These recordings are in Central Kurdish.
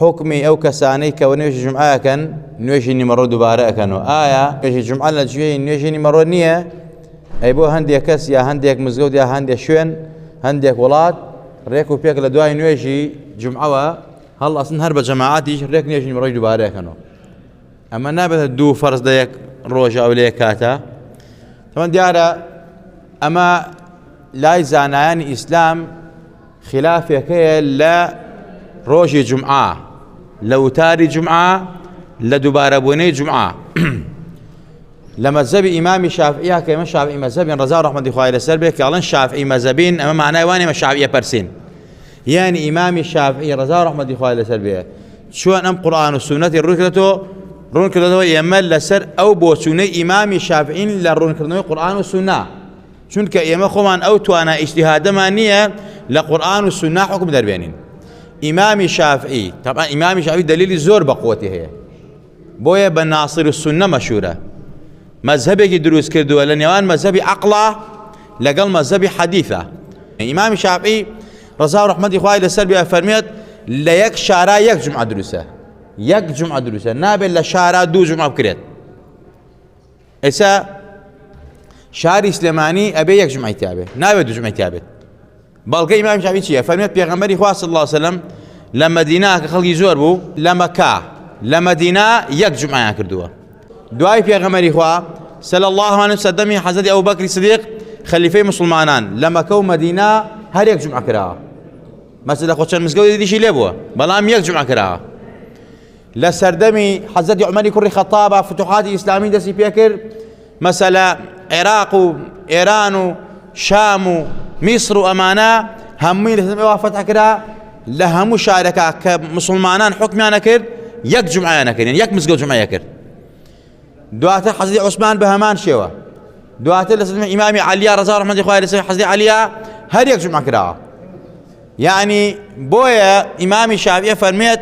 حکمی ئەو کەسانەی کە نوێژی جمعە ئەکەن نوێژی نیمەڕۆ دووبارە ئەەکەنەوە ئایا نوێژی جمعە لە جوێی نوێژی نیمەڕۆ نییە ئەی بۆ هەندێک کەس یا هەندێک مزگەوت یا هەندێک شوێن هەندێک وڵات ڕێک و پێک لە دوای نوێژی جمعەوە هەڵ ئەسن هەر بە جەماعاتیش ڕێک نوێژی نیمەڕۆی دووبارەکەنەوە ئەمە نابێتە دوو فەرز لە یەک ڕۆژە ئەو لە یەک کاتە تەمە دیارە ئەمە لای زانایانی ئیسلام خیلافێک هەیە لە ڕۆژی جمعە لە وتاری جمعە لە دووبارەبوونەی جمعە لە مەزەبی ئیمامی شافعیا کە ئمە شافعی مەزەبین ڕزا ڕحمەدی خوای لەسەر بێ کاڵن شافعی مەزەبین ئەمە مانای وانێمە شاویە پرسین یعنی ئیمامی شافعی ڕزا ڕحمەدی خوای لەسەر بێ چۆن ئەم قورآان و سونەتی ڕووکرێتەوە ڕوون کردەوە ئێمە لەسەر ئەو بۆچوونەی ئیمامی شافعین لە ڕوونکردنەوەی قورآان و سونا چونکە ئێمە خۆمان ئەو توانا ئیجتیهادەمان نییە لە قورئان و سوننا حکم دەربێنین ئیمامی شافعی طبعا ئیمامی شافعی دلیلی زۆر بەقوەتی هەیە بۆیە بە ناصر و سنە مەشورە مەذهبێکی دروست کردووە لە نێوان مەذهبی عقلا لەگەڵ مەذهبی حەدیثە ئیمامی شافعی ڕزا و ڕحمەتی خوای لەسەر بێ فەرمێت لە یەک شارا یەک جمعە دروستە یەک جمعە دروستە نابێت لە شارا دوو جمعە بکرێت ئێسا شاری سلێمانی ئەبێ یەک ژمای تابێت ناوێت دوژمەی تابێت بەڵگە ئیمام شعبی چییە فەرمێت پێغەمبەری خوا صلی الله وسلم لە مدینە کە خەڵکی زۆر بوو لە مەکە لە مدینە یەک جمعیان کردووە دوای پێغەمەری خوا سەل الله و سەدەمی حەزەتی ئەو بەکری سدیق خەلیفەی مسلمانان لە مەکە و مدینە هەرێک جمع کراوە مەسجد لە خۆچەند مزگەوتی دیشی لێ بووە بەڵام یەک جمع کراوە لە سەردەمی حەزەتی عمەری کوڕی خەتابە فتوحاتی ئیسلامی دەستی پێکرد مەسەلە عێراق و ئێران و شام و میسر و ئەمانە هەمووی لە سەردەمی وافەت ئەکرا لە هەموو شارەکە کە مسلمانان حکمیانە کرد یەک جمعیانە کرد یەک مزگەوت جمعەیە کرد دواتر حەزی عوسمان بە هەمان شێوە دواتر لە سنە ئیمامی عەلیا ڕزا ڕحمەتی خوای لەسەر حەزی عەلیا هەر یەک جمع کراوە یعنی بۆیە ئیمامی شاویە فەرمێت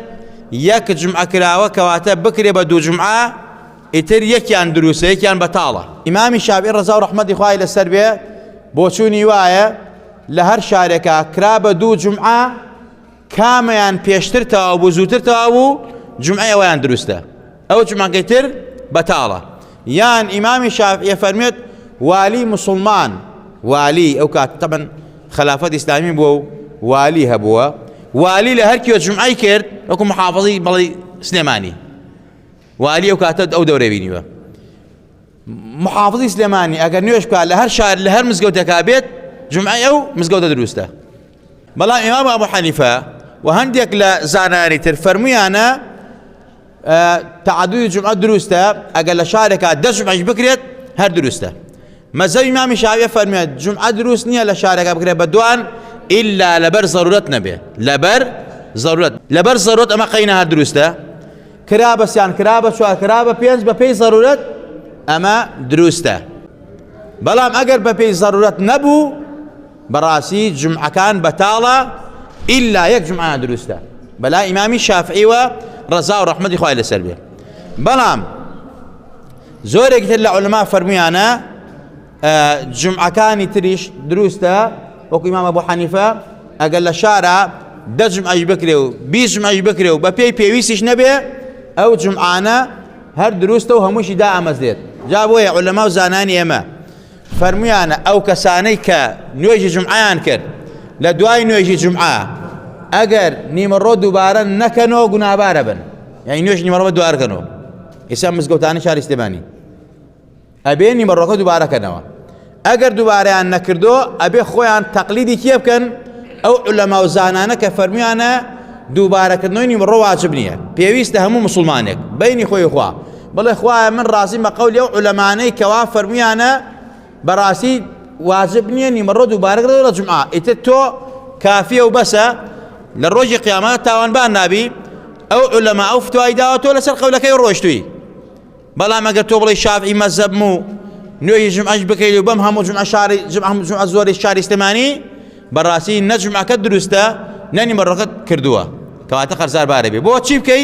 یەک جمع کراوە کەواتە بکرێ بە دوو جمعە ئیتر یەکیان دروستە یەکیان بەتاڵە ئیمامی شاوی ڕزا و ڕحمەتی خوای لەسەر بێ بۆچوونی وایە لە هەر شارێکە کرا بە دوو جمعە کامیان پێشتر تەواو بوو زووتر تەواو بوو جمعی ئەویان دروستە ئەو جمعەکەی تر بەتاڵە یان ئیمامی شافعیە فەرمێت والی مسلمان والی ئەو کات تەبەن خلافەت ئیسلامی بووە و والی هەبووە والی لە هەرکیوە جمعی کرد وەکو محافظی بەڵی سلێمانی والی ئەو کاتە ئەو دەورە بینیوە محافظی سلێمانی ئەگەر نوێش بکات لە هەر شار لە هەر مزگەوتەکە بێت جمعی ئەو مزگەوتە دروستە بەڵام ئیمام ئەبو حەنیفە و هەندێک لە زانانی تر فەرمویانە تعدوی جمعە دروستە ئەگەر لە شارێکا دە جمعش بکرێت هەر دروستە مەزەوی مامی شاویە فەرمیێت جمعە دروست نییە لە شارەکە بکرێت بە دوان ئللا لەبەر زەرورەت نەبێ لەبەر زەرورەت لەبەر زەرۆت ئەمە قەینە هەر دروستە کرا بەسیان کرا بە چوار کرا بە پێنج بە پێی زەرورەت ئەمە دروستە بەڵام ئەگەر بە پێی زەرورەت نەبوو بەڕاستی جمعەکان بەتاڵە ئیلا یەک جمعە دروستە بەلا ئیمامی شافعی و ڕەزا و ڕەحمەتی خوای لەسەر بێ بەڵام زۆرێک تر لە عولما فەرمویانە جمعەکانی تریش دروستە وەکو ئیمامە بۆ حەنیفە ئەگەر لە شارە دەجم ئەش بکرێ و بیژم ئەش بکرێ و بە پێی پێویستیش نەبێ ئەو جمعانە هەر دروستە و هەمووشی دا ئامەزێت جا بۆیە عولەما و زانانی ئێمە فەرموویانە ئەو کەسانەی کە نوێژی جمعیان کرد لە دوای نوێژی جمعە ئەگەر نیمەڕۆ دووبارە نەکەنەوە گونابارە بن یعنی نوێژ نیمەڕۆ دوارکەنەوە ئیسا مزگەوتانی شاری سلێمانی ئەبێ نیمەڕۆکە دووبارەکەنەوە ئەگەر دووبارەیان نەکردو ئەبێ خۆیان تەقلیدی کێ بکەن ئەو لەما و زانانە کە فەرمیانە دووبارەکردنەوەی نیمڕۆ واجب نییە پێویستە هەموو مسلمانێک بینی خۆی خوا بڵێ خوایە من ڕازیم بە قەولی ئەو عولەمانەی کەوا فەرمویانە بەڕاستی واجب نییە نیمەڕۆ دووبارەگە لە جمعا ئیتر تۆ کافیە و بەسە لە ڕۆژی قیامەت تاوانبان نابی ئەو عولەما ئەو فتوای داوە تۆ لەسەر قەولەکەی ڕۆشتوی بەڵام ئەگەر تۆ بڵی شافعی مەزەبم و نوێی ژمعش بکەیت و بەم هەموو جمع شاری جمع هەموو جمع زۆری شاری سلێمانی بەڕاستی نەجمعەکە دروستە نەنی مەڕەکەت کردووە کەواتە قەرزار بارەبێ بۆ چی بکەی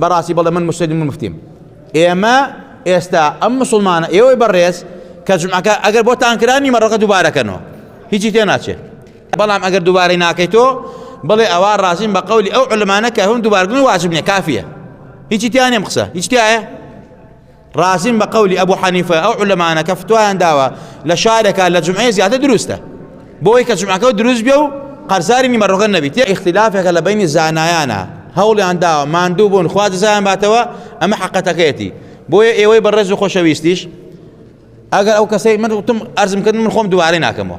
بەڕاستی بەڵێ من مسلم مفتیم ئێمە ئێستا ئەم مسلمانە ئێوەی بەڕێز کە جمعەکە ئەگەر بۆ تانکرانی مەڕەکە دووبارەکەنەوە هیچی تێ ناچێت بەڵام ئەگەر دووبارەی ناکەیت تۆ بڵێ ئەوە ڕازیم بە قولی ئەو علمانە کە هەم دووبارگن واجبنیە کافیە هیچی تیانێم قسە هیچ تایە ڕازیم بە قەولی ئەبوو حەنیفە ئەو علەمانە کە فتوایان داوە لە شارێکە لە جمعێ زیاتر دروستە بۆی کە جمعەکە دروست بێ و قەرزاری نیمەڕۆگە نەبیت یە اختلافێکە لە بینی زانایانە هەوڵیان داوە ماندوو بوون خوا دزایان باتەوە ئەمە حقەتەکەیەتی بۆیە ئێوەی بەڕێز و خۆشەویستیش ئەگەر ئەو کەسەی من وتم ئەرزم کردن من خۆم دووارەی ناکەمەوە